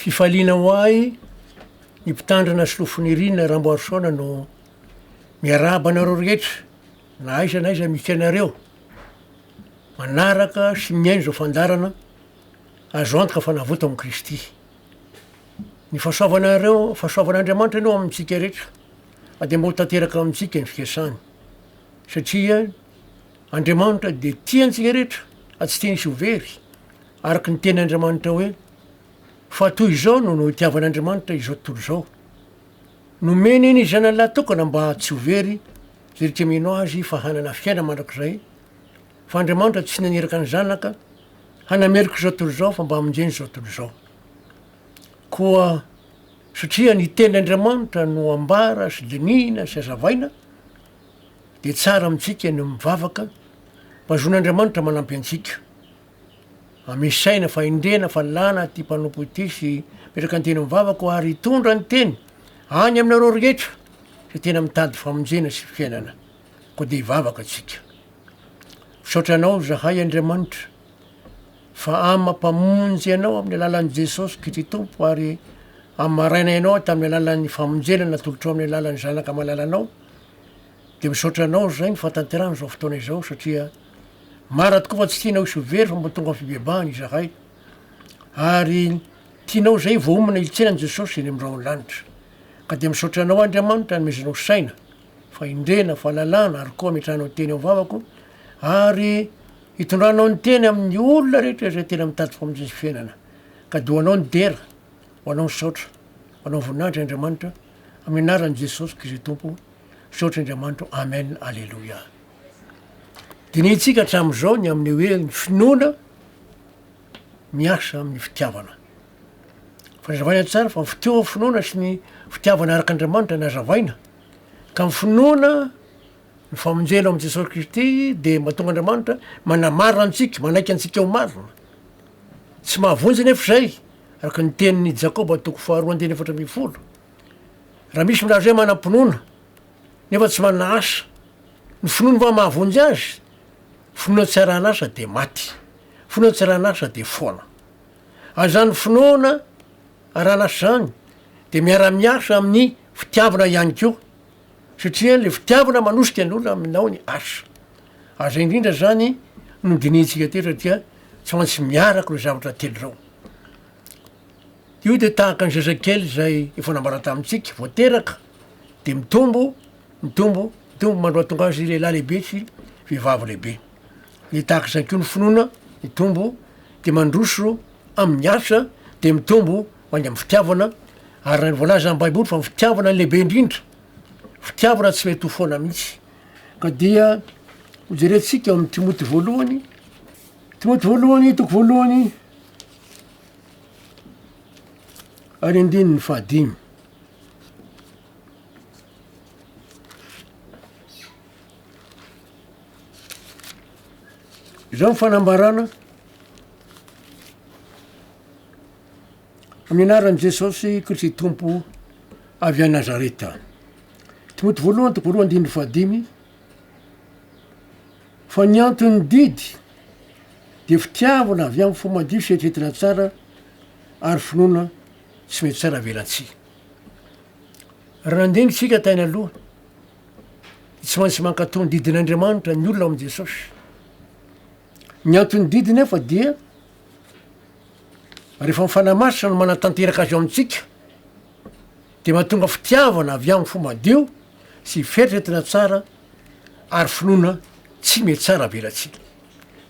Fifaliana ho ahy ny mpitandrina sy lofoniriana Ramboarisaona no miarahaba anareo rehetra na aiza na aiza misy anareo manaraka sy mihaino izao fandaharana azo antoka fa navoto amin'i Kristy. Ny fahasoavanareo, fahasoavan'Andriamanitra aloha amintsika rehetra fa dia mba ho tanteraka amintsika ny fikasany satria Andriamanitra dia tia antsika rehetra ary tsy te hisy ho very Araka ny teny Andriamanitra hoe, Fa toy izao no noitiavan'Andriamanitra izao tontolo izao, nomeny ny Zanany lahatokana mba tsy ho very izay rehetra mino Azy fa hanana fiainana mandrakizay, fa Andriamanitra tsy naniraka ny Zanaka hanameloka izao tontolo izao fa mba hamonjeny izao tontolo izao. Koa satria ny teny Andriamanitra no ambara sy dinihina sy azavaina, dia tsara amintsika ny mivavaka mba zon'Andriamanitra manampy antsika. Amish saina fa indrena fa lana ity mpanompo ity sy mipetraka ny teny amin'ny vavako ary hitondra ny teny any aminareo rehetra izay tena mitady famonjena sy fiainana. Koa dia hivavaka tsika. Misaotra anao zahay Andriamanitra fa ama mpamonjy anao amin'ny alalan'i Jesosy Kity Tompo ary am maraina ianao tamin'ny alalan'ny famonjena natolotrao amin'ny alalan'ny zanaka malalanao dia misaotra anao zahay ny fahatanterahana izao fotoana izao satria Mara tokoa fa tsy tianao hisolo very fa mba tonga amin'ny fibebahana izahay ary tianao izay vao homana hilintsena an'i Jesosy eny amin'ny rahon'ny lanitra. Ka dia misaotra Anao Andriamanitra nomezanao saina, fahendrena, fahalalana ary koa ametrahanao teny amin'ny vavako ary hitondranao ny teny amin'ny olona rehetra izay tena mitady famonjena sy fiainana. Ka dia ho Anao ny dera, ho Anao ny saotra, ho Anao ny voninahitra Andriamanitra, amin'ny anaran'i Jesosy Kristy Tompo, misaotra Andriamanitro, Amen, Aleloia. Dinihintsika hatramin'izao ny amin'ny hoe ny finoana miasa amin'ny fitiavana. Fa nazavaina tsara fa fitohan'ny ny finoana sy ny fitiavana araka Andriamanitra no hazavaina. Ka ny finoana ny famonjena ao amin'i Jesosy Kristy dia mahatonga Andriamanitra manamarina antsika, manaiky antsika ho marina. Tsy mahavonjy anefa izay, araka ny tenin'i Jakoba toko faharoa andininy efatra ambin'ny folo. Raha misy milaza hoe manam-pinoana, nefa tsy manana asa. Ny finoany fa mahavonjy azy, finoana tsy arahan'asa dia maty, finoana tsy arahan'asa dia foana. Ary izany finoana arahan'asa izany dia miara-miasa amin'ny fitiavana ihany koa, satria ilay fitiavana manosika ny olona aminao ny asa. Ary izay indrindra izany no dinihintsika teto satria tsy maintsy miaraka ireo zavatra telo ireo. Io dia tahaka ny zazakely izay efa nambarany tamintsika, vao teraka, de mitombo mitombo mitombo mandroa tonga azy lehilahy lehibe sy vehivavy lehibe, de tahaka izay ko ny finoana mitombo de mandroso amin'ny asa de mitombo ho any amin'ny fitiavana ary raha ny voalaza am baiboly fa ny fitiavana no lehibe indrindra, fitiavana tsy mety ho foana mihitsy ka dia ho jerentsika ao amin'ny timoty voalohany timoty voalohany toko voalohany ary andininy fahadimy. Izao ny fanambarana amin'ny anaran'i Jesosy Kristy Tompo avy any Nazareta. Timoty voalohany toko roa andininy fahadimy fa ny anton'ny didy dia fitiavana avy amin'ny fo madio sy eritreritra tsara ary finoana tsy mety tsara velatsihy. Raha nandinga isika tany aloha, dia tsy maintsy mankatò ny didin'Andriamanitra ny olona ao amin'i Jesosy. Ny anton'ny didy nefa dia rehefa ny fanahy masina no manatanteraka azy ao amintsika, dia mahatonga fitiavana avy amin'ny fo madio sy fieritreretana tsara ary finoana tsy mety tsara velatsihy.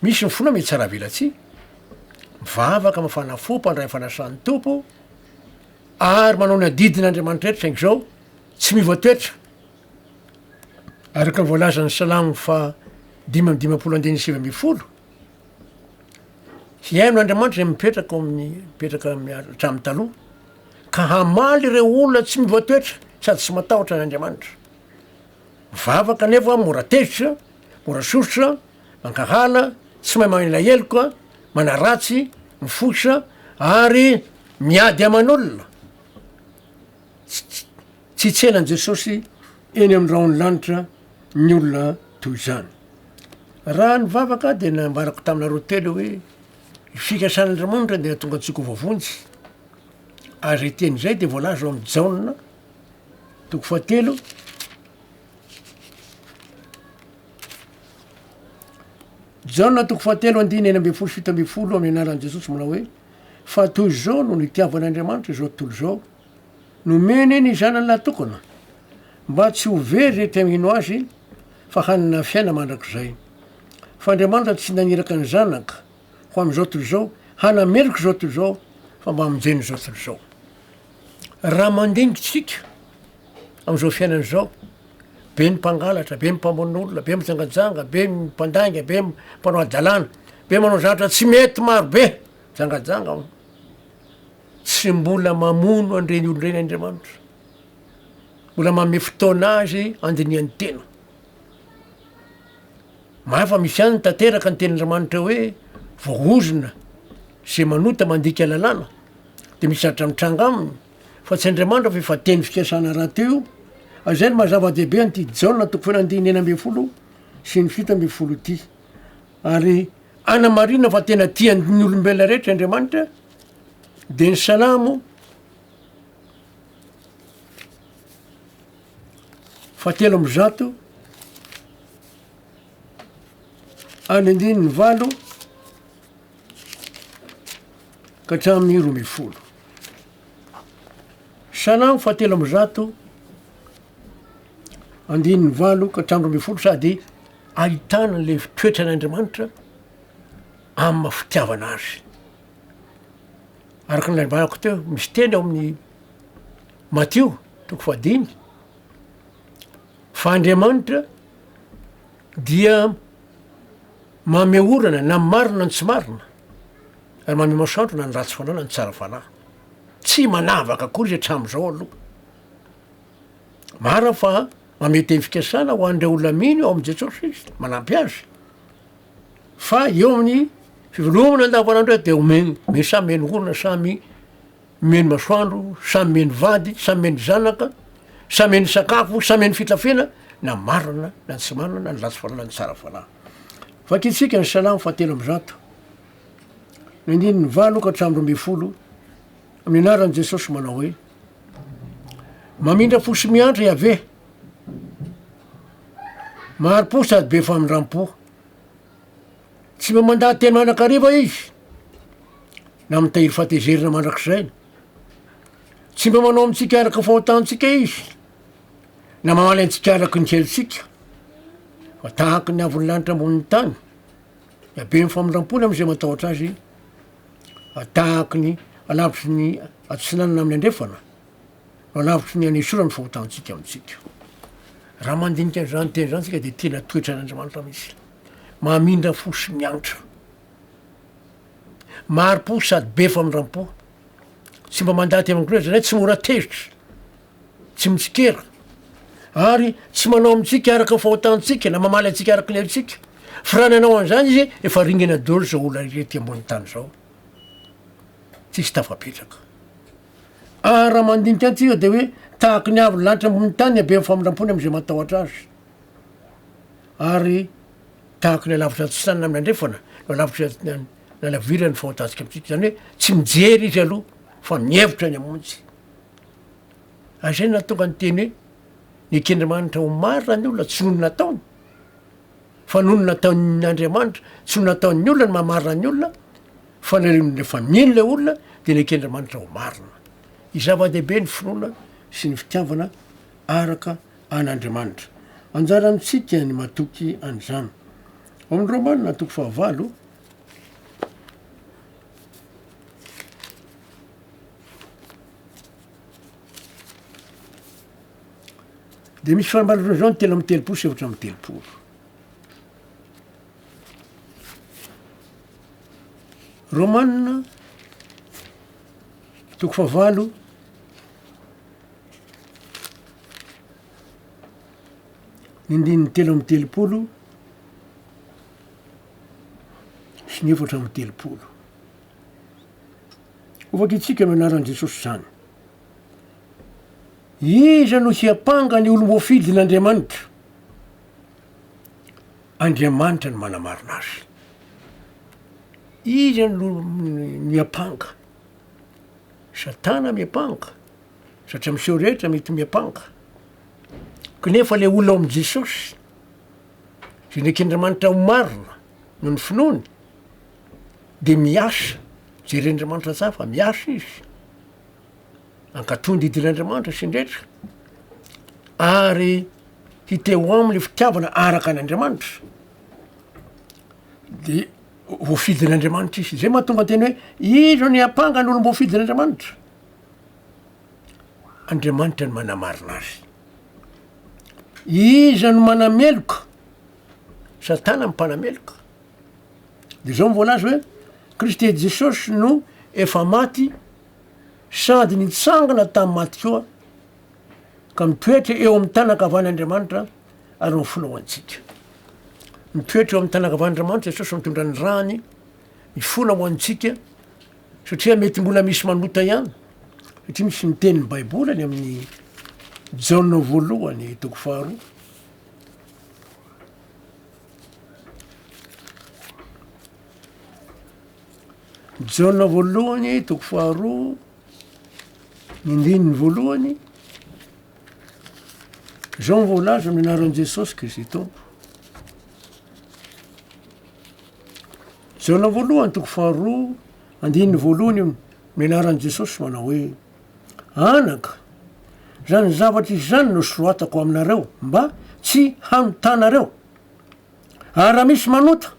Misy ny finoana mitsara-velatsihy, mivavaka, mafana fo, mpandray ny fanasan'ny Tompo, ary manao ny adidin'Andriamanitra rehetra, saingy izao tsy miova toetra, araka ny voalazan'ny Salamo faha dimy amby dimampolo andininy sivy ambin'ny folo, Hihaino Andriamanitra izay mipetraka ao amin'ny mipetraka hatramin'ny taloha, ka hamaly ireo olona tsy miova toetra sady tsy matahotra an'Andriamanitra. Vavaka anefa aho mora tezitra, mora sosotra, mankahala, tsy mahay manila heloka, manaratsy, mifosa ary miady aman'olona. Tsy tselan'i Jesosy eny amin'ny rahon'ny lanitra ny olona toy izany. Raha nivavaka aho dia nambarako taminareo telo hoe ny fikasan'Andriamanitra dia hahatonga antsika ho voavonjy. Ary izay teny izay dia voalaza ao amin'ny Jaona Toko fahatelo, Jaona toko fahatelo andininy enina ambin'ny folo sy fito ambin'ny folo amin'ny anaran'i Jesosy manao hoe fa toy izao no nitiavan'Andriamanitra izao tontolo izao, nomeny ny zanany natokana mba tsy ho very izay te mino azy fa hanana fiaina mandrakizay. Fa Andriamanitra tsy naniraka ny zanaka ho amin'izao tontolo izao, hanameloka izao tontolo izao fa mba hamonjena izao tontolo izao. Raha mandinika isika amin'izao fiainana izao, be ny mpangalatra, be ny mpamono olona, be mijangajanga, be ny mpandainga, be ny mpanao hadalana, be manao zavatra tsy mety maro be, mijangajanga ao. Tsy mbola mamono an'ireny olona ireny Andriamanitra. Mbola manome fotoana azy andinihan'ny tena. Mahay fa misy ihany tanteraka ny tenin'Andriamanitra hoe voahozona izay manota mandika lalàna dia misy zatra mitranga aminy fa tsy Andriamanitra fa efa teny fikasana raty io ary izay no maha zava-dehibe an'ity Jaona toko folo andininy enina ambin'ny folo sy ny fito ambin'ny folo ity ary anamarina fa tena tian'ny olombelona rehetra Andriamanitra dia ny salamo fa telo amby zato Any andininy valo ka hatramin'ny roa ambin'ny folo. Salamo fahatelo amby zato andininy valo ka hatramin'ny roa ambin'ny folo sady ahitana le toetran'Andriamanitra amin'ny maha fitiavana azy. Araka ny nanimbànako teo misy teny ao amin'ny Matio toko fahadimy. Fa Andriamanitra dia mameho orana na marina ny tsy marina, ary mameho masoandro na ny ratsy fanahy na ny tsara fanahy. Tsy manavaka akory izy hatramin'izao aloha. Marina fa mamehy teny fikasana ho an'ireo olona mino ao amin'i Jesoa Kristy, manampy azy. Fa eo amin'ny fivelomana andavanandro dia omeny, samy menohorina, samy Mihaino masoandro, samy mihaino vady, samy mihaino zanaka, samy mihaino sakafo, samy mihaino fitafiana, na marina na tsy marina, na ny ratsy fanahy na ny tsara fanahy. Vakintsika ny Salamo fahatelo amby zato, ny andininy valo ka hatramin'ny roa ambin'ny folo, amin'ny anaran'i Jesosy manao hoe, Mamindra fo sy miantra Yaveh, mahari-po sady be famindram-po. Tsy mba mandà tena anakariva izy na mitahiry fatezerana mandrakizay. Tsy mba manao amintsika araka fahotantsika izy na mamaly antsika araka ny helotsika fa tahaka ny avon'ny lanitra ambonin'ny tany dia be ny famindram-pony amin'izay matahotra azy fa tahaka ny alavitry ny atsinanana amin'ny andrefana no alavitry ny anesorany fahotantsika amintsika raha mandinika an'izany teny izany tsika dia tena toetran'andriamanitra mihitsy Mahamindra fo sy miantra. Mari-po sady be famindram-po. Tsy mba mandà aty amin-ko loatra, izay tsy mora tezitra, tsy mitsikera, ary tsy manao amintsika araka ny fahotantsika na mamaly antsika araka ny haintsika. Fa raha nanao an'izany izy, efa ringana daholo izao olona rehetra ety ambonin'ny tany izao. Tsisy tafapetraka. Ary raha mandinika antsika dia hoe tahaka ny haavon'ny lanitra ambonin'ny tany ny haben'ny famindram-pony amin'izay matahotra azy. Ary tahaka ilay lavitra antsinanana amin'ny andrefana no lavitra nalavirany ny fahontantsika amintsika. Izany hoe tsy mijery izy aloha fa mihevitra ny hamonjy. Ary izay no nahatonga ny teny hoe neken'Andriamanitra ho marina ny olona tsy noho ny nataony fa noho ny nataon'Andriamanitra, tsy noho ny nataon'ny olona ny mahamarina ny olona fa ny rehefa mino ilay olona dia neken'Andriamanitra ho marina. Zava-dehibe ny finoana sy ny fitiavana araka an'Andriamanitra. Anjara amintsika ny matoky an'izany. Ao amin'ny Romana toko fahavalo, dia misy fanambarana izao ny telo amby telopolo sy efatra amby telopolo. Romana toko fahavalo Ny andininy telo amby telopolo sy ny efatra amby telopolo. Ho vakitsika amin'ny anaran'i Jesosy izany. Iza no hiampanga ny olom-boafidin'Andriamanitra? Andriamanitra no manamarina azy. Iza no hiampanga Satana miampanga satria miseho rehetra mety miampanga knefa le olona ao amin'i Jesosy zay neken'Andriamanitra ho marina noho ny finoany de miasa jeren'Andriamanitra tsara fa miasa izy ankatoa ny didin'Andriamanitra sy ny rehetra ary hite ho aminy fitiavana araka an'Andriamanitra de Voafidin'Andriamanitra izy. Zay mahatonga an-teny hoe iza no hiampanga ny olom-boafidin'Andriamanitra? Andriamanitra no manamarina azy. Iza no manameloka? Satana no mpanameloka. De zao no voalaza hoe Kristy Jesosy no efa maty sady nitsangana tamin'ny maty koa ka mitoetra eo amin'ny tanankavan'Andriamanitra, ary ho filohantsika. Mitoetra eo amin'ny tanankavan'Andriamanitra Jesosy mitondra ny rany mifona ho antsika satria mety mbola misy manota ihany satria misy miteny ny Baiboly any amin'ny Jaona voalohany toko faharoa. Jaona voalohany toko faharoa ny ndininy voalohany Izao no voalaza amin'ny anaran'i Jesosy Kristy Tompo. Jaona voalohany toko faharoa andininy voalohany io amin'ny anaran'i Jesosy manao hoe anaka izany zavatra izany no soratako aminareo mba tsy hanotanareo ary raha misy manota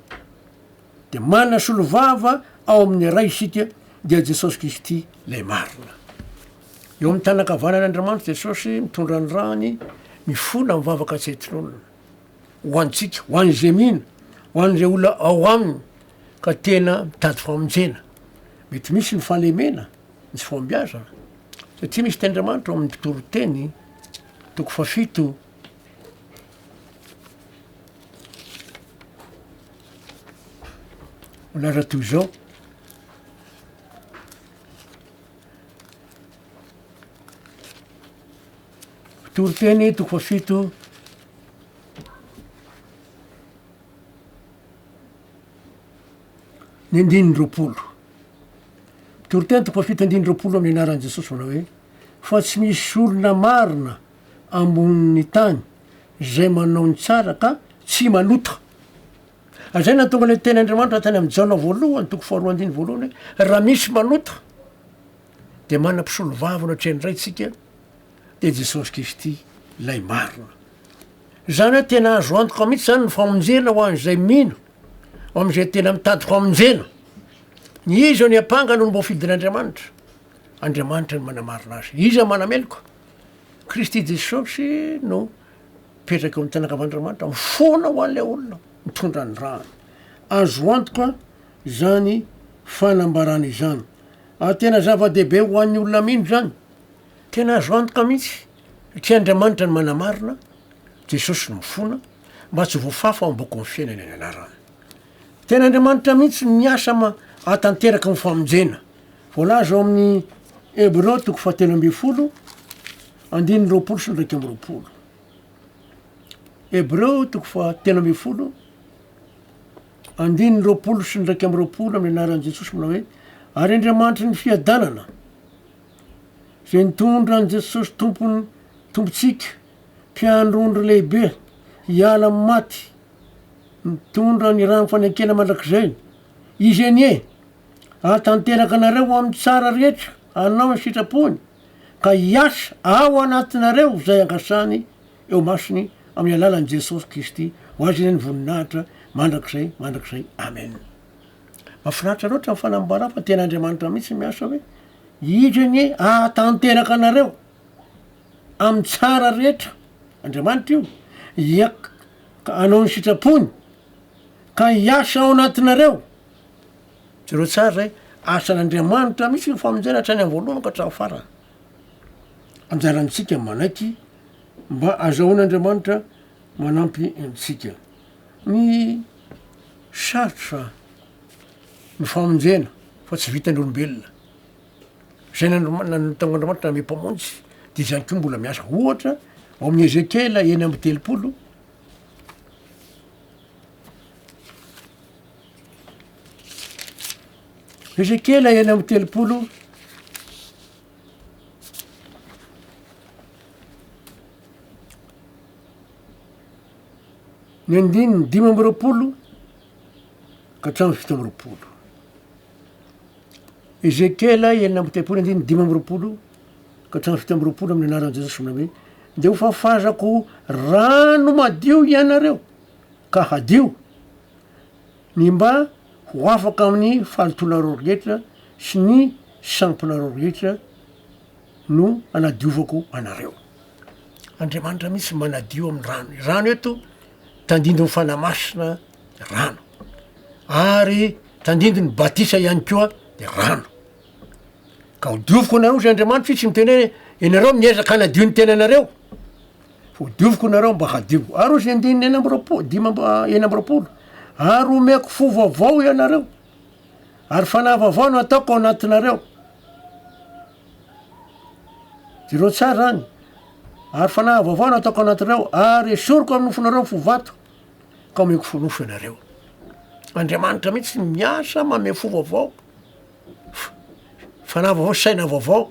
Dia manasolovava ao amin'ny Ray isika, dia Jesosy Kristy ilay marina. Eo amin'ny tanana ankavanan'Andriamanitra Jesosy mitondra ny rany, mifona mivavaka tsy hetronona. Ho antsika, ho an'izay mino, ho an'izay olona ao aminy ka tena mitady famonjena. Mety misy ny fahalemena, misy fahombiazana. Satria misy tenin'Andriamanitra ao amin'ny mpitoriteny, toko fahafito, Mbola raha toy izao. Toriteny toko fahafito ny andininy roapolo. Toriteny toko fahafito andininy roapolo amin'ny anaran'i Jesosy manao hoe fa tsy misy olona marina ambonin'ny tany izay manao ny tsara ka tsy manota. Izay no nahatonga ilay tenin'Andriamanitra tany amin'i Jaona voalohany toko faharoa andininy voalohany hoe raha misy manota dia manana mpisolovava eo anatrehan'ny Raintsika dia Jesosy Kristy ilay marina. Izany hoe tena azo antoka mihitsy izany ny famonjena ho an'izay mino ho amin'izay tena mitady famonjena. Ny iza ny ampanga no mboafidin'Andriamanitra? Andriamanitra ny manamarina azy. Iza manameloka? Kristy Jesosy no mipetraka eo amin'ny tanan-kavan'Andriamanitra, mifoana ho an'ilay olona mitondra ny rany. Azo antoka izany fanambarana izany. Ary tena zava-dehibe ho an'ny olona mino izany. Tena azo antoka mihitsy, satria Andriamanitra no manamarina, Jesosy no mifoana, mba tsy ho voafafa ao am-bokin'ny fiainana ny anarany. Tena Andriamanitra mihitsy no miasa ma hatanteraka ny famonjena. Voalaza ao amin'ny Hebreo toko fahatelo ambin'ny folo, andininy roapolo sy ny iraika amby roapolo. Hebreo toko fahatelo ambin'ny folo, andininy roapolo sy ny iraika amby roapolo amin'ny anaran'i Jesosy manao hoe ary Andriamanitry ny fiadanana izay nitondra an'i Jesosy Tompony Tompontsika Mpiandrondro lehibe hiala amin'ny maty mitondra ny rano fanekena mandrakizay. Izy anie hahatanteraka anareo ho amin'ny tsara rehetra hanao ny sitrapony ka hiasa ao anatinareo izay angasany eo masony amin'ny alalan'i Jesosy Kristy ho azy ireny voninahitra mandrakizay mandrakizay amen. Mafinaritra loatra ny fanambara fa tena Andriamanitra mihitsy miasa hoe izy anie hahatanteraka anareo. amin'ny tsara rehetra, Andriamanitra io, hiak hanao ny sitrapony, ka hiasa ao anatinareo, jereo tsara zay, asan'Andriamanitra mihitsy ny famonjena hatrany amin'ny voalohany ka hatramin'ny farany, anjarantsika manaiky mba azahoan'Andriamanitra manampy antsika, ny sarotra ny famonjena fa tsy vitan'ny olombelona. izay nanontan'Andriamanitra hanome Mpamonjy, dia izany koa mbola miasa. Ohatra, ao amin'ny Ezekiela enina amby telopolo, Ezekiela enina amby telopolo, ny andininy dimy amby roapolo ka hatramin'ny fito amby roapolo. Ezekiela enina amby telopolo andininy dimy amby roapolo ka hatramin'ny fito amby roapolo amin'ny anaran'i Jesosy manao hoe, Dia hofafazako rano madio hianareo, ka hadio, ny mba ho afaka amin'ny fahalotoanareo rehetra sy ny sampinareo rehetra no anadiovako anareo. Andriamanitra mihitsy manadio amin'ny rano. Rano eto tandindon'ny fanahy masina. rano ary tandindony batisa ihany koa de rano ka ho dioviko anareo zay andriamanitro i tsy miteny hoe ianareo miezaka hanadio ny tenanareo ho dioviko nareo mba hadio ary ozy andininy ena ambiroapolo dimy amby ena ambiroapolo ary omeko fo vaovao ianareo ary fanahy vaovao no ataoko ao anatinareo jereo tsara any ary fanahy vaovao no ataoko anatinareo ary esoriko amin'ny nofonareo ny fo vato ka omeko forofo ianareo. Andriamanitra mihitsy no miasa manome fo vaovao, fanahy vaovao, saina vaovao,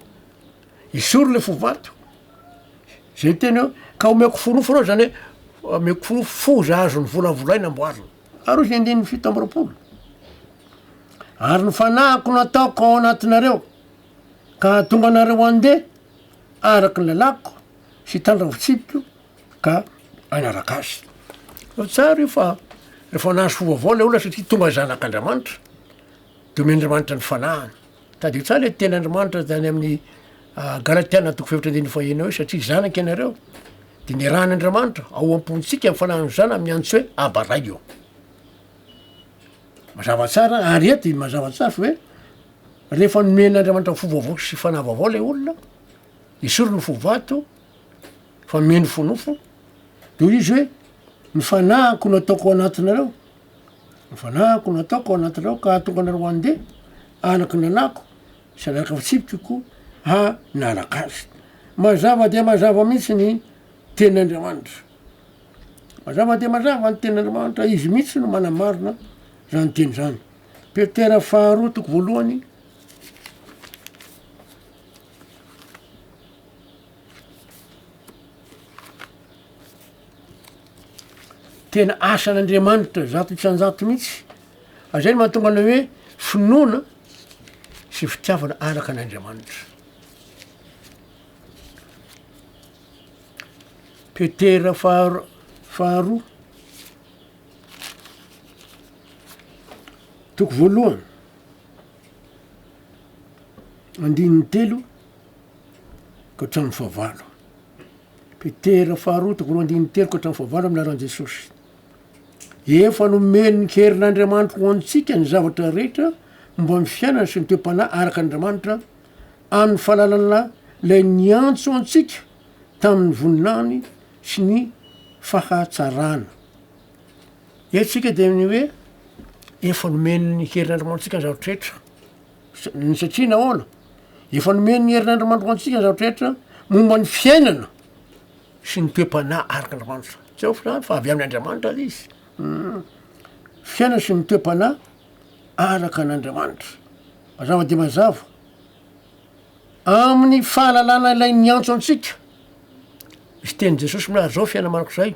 esory le fo vato. Zay teny hoe ka omeko forofo anao zany hoe omeko forofo foza azony volavolaina amboarina. Ary hoy ny andininy fito amby roapolo, ary ny fanahiko nataoko ao anatinareo ka hahatonga anareo handeha araka ny lalàko sy hitandrina fitsipiko ka hanaraka azy. Fa tsara io fa rehefa nahazo fo vaovao ilay olona satria tonga zanak'Andriamanitra dia omen'Andriamanitra ny fanahiny. Tadidio tsara ilay tenin'Andriamanitra tany amin'ny ah, Galatiana toko fefatra andininy fahenina hoe satria zanaka ianareo dia nirahan'Andriamanitra ao am-pontsika ny fanahiny zana amin'ny antso hoe Aba Ray o. Mazava tsara ary eto i mazava tsara fa hoe rehefa nomen'Andriamanitra fo vaovao sy fanahy vaovao ilay olona, esoriny ny fo vato, Fa minofonofo de izy hoe ny fanahiko no ataoko anatinareo, ny fanahiko no ataoko anatinareo ka hahatonga anareo handeha araka ny lalàko sy araka ny fitsipikiko hanaraka azy. Mazava dia mazava mihitsy ny tenin'Andriamanitra. Mazava dia mazava ny tenin'Andriamanitra, izy mihitsy no manamarina zany teny zany. Petera faharoa toko voalohany. Tena asan'Andriamanitra zato isan-jato mihitsy. Azay no mahatonga anao hoe finoana sy fitiavana araka an'Andriamanitra. Petera faharo faharoa. Toko voalohany. Andininy telo ka hatramin'ny fahavalo. Petera faharoa toko roa andininy telo ka hatramin'ny fahavalo amin'ny anaran'i Jesosy. Efa nomen'ny herin'Andriamanitra ho antsika ny zavatra rehetra momba ny fiainana sy ny toe-panahy araka an'Andriamanitra amin'ny fahalalana ilay niantso antsika tamin'ny voninahiny sy ny fahatsarana. Etsika dia ny hoe efa nomen'ny herin'Andriamanitra antsika ny zavatra rehetra. ny satria nahoana efa nomen'ny herinandro mandro ho antsika ny zavatra rehetra momba ny fiainana sy ny toe-panahy araka andriamanitra tsy aoka zany fa avy amin' andriamanitra lay izy um fiainana sy ny toe-panahy araka an'andriamanitra mazava dia mazava amin'ny fahalalana ilay niantso antsika izy tenin'i jesosy mihary zao fiaina manako zay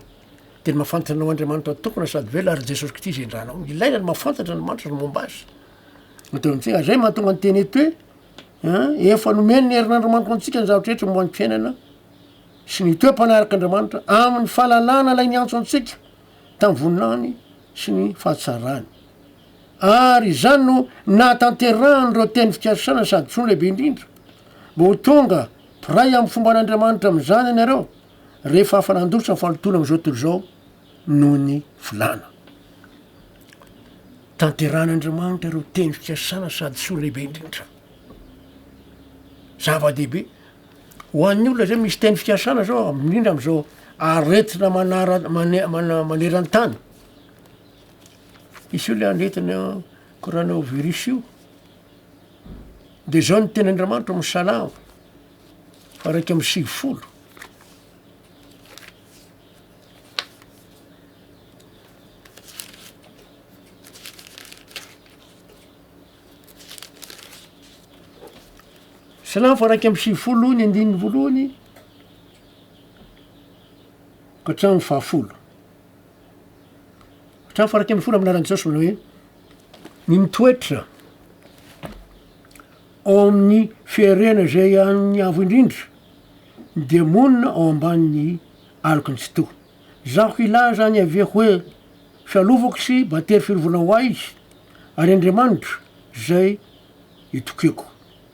de ny mahafantatra anao andriamanitra tokana sady velona ary jesosy kristy zay indranao ilaina ny mahafantatra andriamanitra ny momba azy Dia teo amin'izay, ary izay no mahatonga ny teny eto hoe an, efa nomen'ny herin'Andriamanitra ho antsika ny zavatra rehetra momba ny fiainana sy ny toe-panahiraka Andriamanitra amin'ny fahalalana ilay niantso antsika tamin'ny voninahiny sy ny fahatsarany. Ary izany no nahatanterahan'ireo teny fikasana sady tsoa lehibe indrindra, mba ho tonga mpiray amin'ny fomban'Andriamanitra amin'izany ianareo rehefa afa-nandositra ny fahalotoana amin'izao tontolo izao. noho ny volana. Tanterahan'Andriamanitra ireo teny fikasana sady soa lehibe indrindra. Zava-dehibe. Ho an'ny olona izay misy teny fikasana zao indrindra amin'izao aretina manara- mane- mana- maneran-tany. Hisy olona aretina coronavirus io. De zao ny teny Andriamanitra ao amin'ny salamo faha iraika amby sivifolo. Salamo faraika amby sivifolo ny andininy voalohany ka hatramin'ny fahafolo hatramin'ny faraika amby folo amin'aran'i Jesosy manao hoe ny mitoetra ao amin'ny fiarena izay an'ny avo indrindra dia monina ao ambanin'ny aloky ny tsitoha. Zaho ilay izany avy eo hoe fialovako sy battery fiarovana ho ahy izy, ary Andriamanitra izay itokiako.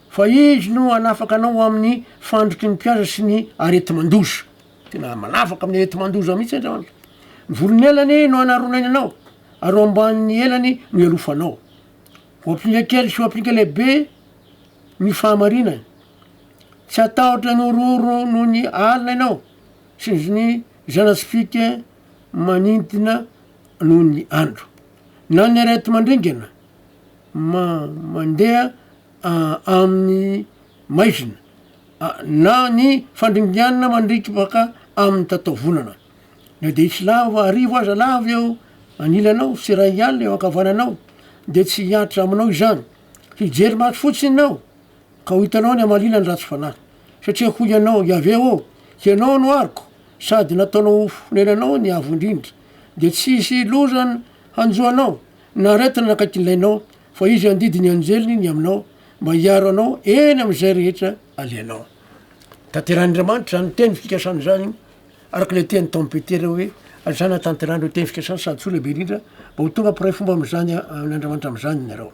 Fa Izy no hanafaka anao ho amin'ny fandriky ny mpihaza sy ny areti-mandoza. Tena manafaka amin'ny areti-mandoza mihitsy Andriamanitra. Ny volon'elany no hanaronainy anao, ary ho ambanin'ny elany no hialofanao. Ho ampinga kely sy ho ampinga lehibe ny fahamarinany. Tsy hatahotra ny horohoro noho ny alina ianao, sy ny zana-tsipìka manintona noho ny andro, na ny areti-mandringana mandeha amin'ny maizina, na ny fandringanana mandriaka baka amin'ny tataovonana. Na dia hisy lava arivo aza lava eo anilanao, sy iray alina eo ankavananao, dia tsy hihatra aminao izany. Hijery maso fotsiny ianao. Ka ho hitanao ny hamaliana ny ratsy fanahy. Satria hoy ianao, Iaveh ô, Hianao no aroko, sady nataonao ho fonenanao ny Avo Indrindra, dia tsy hisy loza hanjo anao, na aretina nakaiky ny lainao, fa Izy handidy ny anjeliny ny aminao, mba hiaro anao eny amin'izay rehetra alehanao. Tanterahin'Andriamanitra izany teny fikasana izany, araka ilay teny tao amin'ny Petera hoe, Aza anatanterahan'ireo teny fikasana sady soa lehibe indrindra, mba ho tonga mpiray fomba amin'izany amin'Andriamanitra amin'izany ianareo.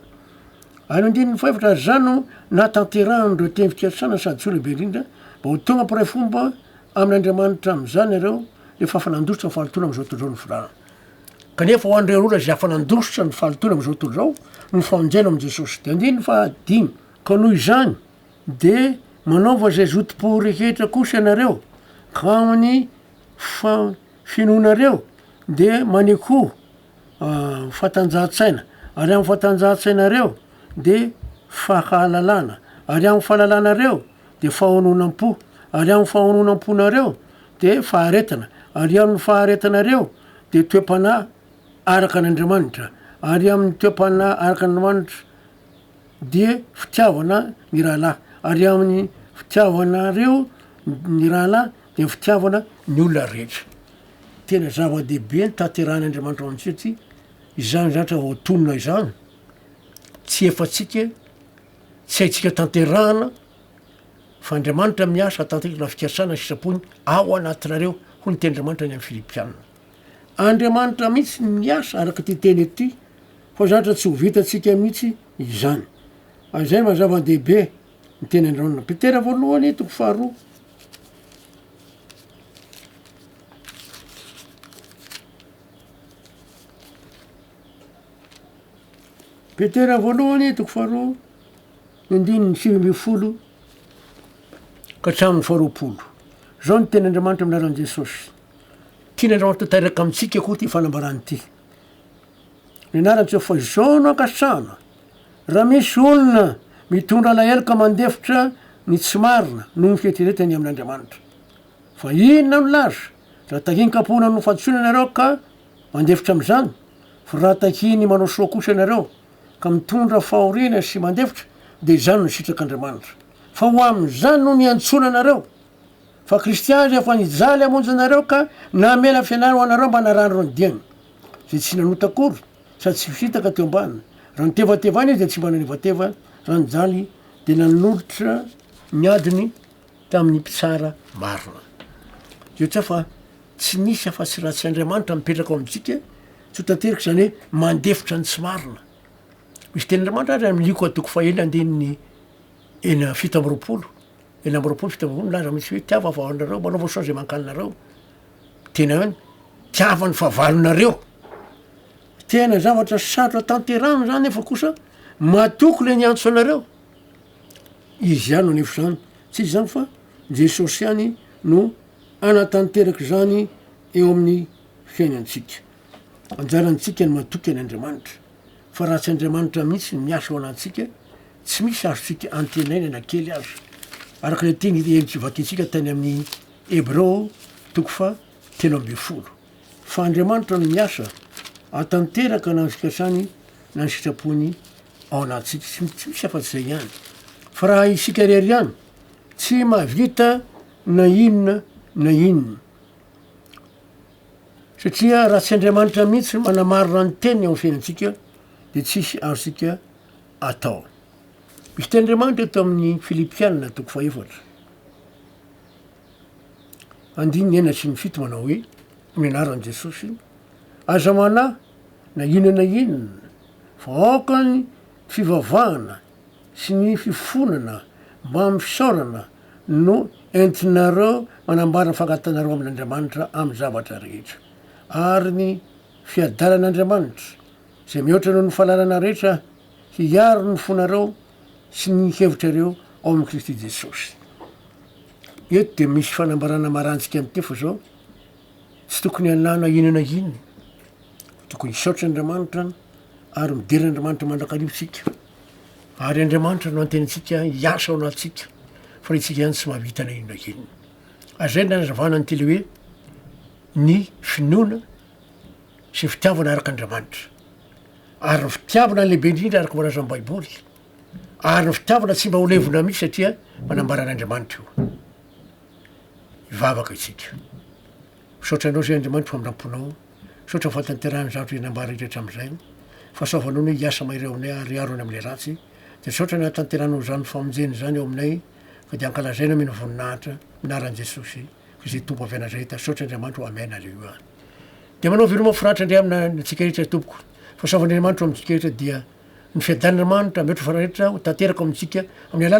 Any andininy fahefatra ary izany no nahatanterahan'ireo teny fikatsana sady soa lehibe indrindra, mba ho tonga mpiray fomba amin'Andriamanitra amin'izany ianareo rehefa afa nandositra ny fahalotoana amin'izao tontolo izao ny firahana. Kanefa ho an'ireo olona izay afa nandositra ny fahalotoana amin'izao tontolo izao no famonjena ao amin'i Jesosy. Dia andininy fahadimy, Ka noho izany dia manaova izay zotom-po rehetra kosa ianareo, ka amin'ny fa finoanareo dia manekoa fatanjahan-tsaina, ary amin'ny fatanjahan-tsainareo dia fahalalana, ary amin'ny fahalalanareo dia fahononam-po, ary amin'ny fahononam-ponareo dia faharetana, ary amin'ny faharetanareo dia toe-panahy araka an'Andriamanitra, ary amin'ny toe-panahy araka an'Andriamanitra dia fitiavana ny rahalahy, ary amin'ny fitiavanareo ny rahalahy Ny fitiavana ny olona rehetra. Tena zava-dehibe ny tanterahin'Andriamanitra ao amintsika ity, izany zatra vao tonona izany, tsy efantsika, tsy haintsika tanterahana, fa Andriamanitra miasa atanteraka na fikasana ny sitrapony ao anatinareo, hoy ny tenin'Andriamanitra any amin'ny Filipiana. Andriamanitra mihitsy no miasa araka ity teny ity, fa zatra tsy ho vitantsika mihitsy izany. Ary izay no maha zava-dehibe ny teny andrahonana. Petera voalohany toko faharoa. Petera voalohany toko faharoa ny andininy sivy ambin'ny folo ka hatramin'ny faharoapolo. Izao ny tenin'Andriamanitra amin'ny anaran'i Jesosy. Tian'Andriamanitra tanteraka amintsika koa ity fanambarana ity. Ny anarany tsy fa izao no ankasitrahana Raha misy olona mitondra alahelo ka mandefitra ny tsy marina noho ny fieritreretany amin' Andriamanitra, fa inona no laza raha tahin-kapohina ny hofantsona ianareo ka mandefitra amin' izany? Fa raha tahin' ny manao soa kosa ianareo ka mitondra fahoriana sy mandefitra, dia izany no sitrak' Andriamanitra, fa ho amin' izany no niantsoana anareo, fa Kristiana izay efa nijaly hamonjy anareo ka namela fianany ho anareo mba narandro ny diany, izay tsy nanota akory. sady tsy fitaka teo ambany. Raha nitevatevana izy dia tsy mba nanevateva, raha nijaly dia nanolotra ny adiny tamin'ny mpitsara marina. Jehotsy fa tsy nisy afa-tsy ratsy Andriamanitra mipetraka ao amintsika, soa tanteraka izany hoe mandefitra ny tsy marina. Misy tenin'Andriamanitra ary amin'ny Lioka toko fahenina andininy enina fito amby roapolo, enina amby roapolo fito amby roapolo milaza amintsika hoe tiavo ny vavahaonareo, manaova soa izay mankaninareo. Tena hoe mitiava ny fahavalonareo. Tena zavatra sarotra tanterahina zany nefa kosa matoky le niantso anareo. Izy ihany no anefa zany, tsy izy zany fa Jesosy ihany no anatanteraka izany eo amin'ny fiainantsika. Anjarantsika ny matoky an' Andriamanitra, fa raha tsy Andriamanitra mihitsy ny miasa ao anatintsika, tsy misy azontsika antenaina na kely aza. Araka le teny Elie Kivati-ntsika tany amin'ny Hebreo toko faha telo ambin'ny folo. Fa Andriamanitra no miasa atanteraka na ny fikasany na ny sitrapony ao anatintsika. Tsy tsy misy afa-tsy izay ihany. Fa raha isika irery ihany, tsy mahavita na inona na inona. Satria raha tsy Andriamanitra mihitsy no manamarina ny teniny ao amin'ny fiainantsika, dia tsy hisy azontsika atao. Misy tenin'Andriamanitra eto amin'ny Filipiana toko faha efatra. andininy enina sy ny fito manao hoe, amin'ny anaran'i Jesosy, aza manahy na inona na inona, fa aoka ny fivavahana sy ny fifonana mba amin'ny fisaorana no entinareo manambara ny fankatanareo amin'Andriamanitra amin'ny zavatra rehetra, ary ny fiadanan' Andriamanitra, izay mihoatra noho ny fahalalana rehetra, hiaro ny fonareo sy ny hevitrareo ao amin'i Kristy Jesosy. Eto dia misy fanambarana marantsika mitefa zao, tsy tokony hanao na inona na inona, tokony hisaotra Andriamanitra ary midera Andriamanitra mandrakariva isika. Ary Andriamanitra no anteny antsika hiasa ao anatintsika, fa isika ihany tsy mahavita na inona na inona. Azay ny nanazavana ny teny hoe ny finoana sy fitiavana araka Andriamanitra. Ary ny fitiavana lehibe indrindra araka ny voalazan'ny Baiboly. Ary ny fitiavana tsy mba ho levona mihitsy satria manambaran'Andriamanitra io. Hivavaka isika. Misaotra anao izay Andriamanitra famindramponao. Misaotra fatanterahany zavatra izay nambara indray hatramin'izay. Fahasoavanao ny hiasa mahery ao aminay ary hiaro ny amin'ilay ratsy. Dia misaotra ny hahatanteranao izany famonjena izany ao aminay ka dia hankalazaina amin'ny voninahitra. Amin'ny anaran'i Jesosy Kristy Tompo avy Nazareta. Misaotra Andriamanitra o. Amen. Aleloia. Dia manao veloma fo raitra indray amina ny antsika rehetra tompoko fa saovan'Andriamanitra ho amintsika rehetra dia ny fiadan'Andriamanitra mihoatra ny fanarehetra ho tanteraka ao amintsika amin'ny alala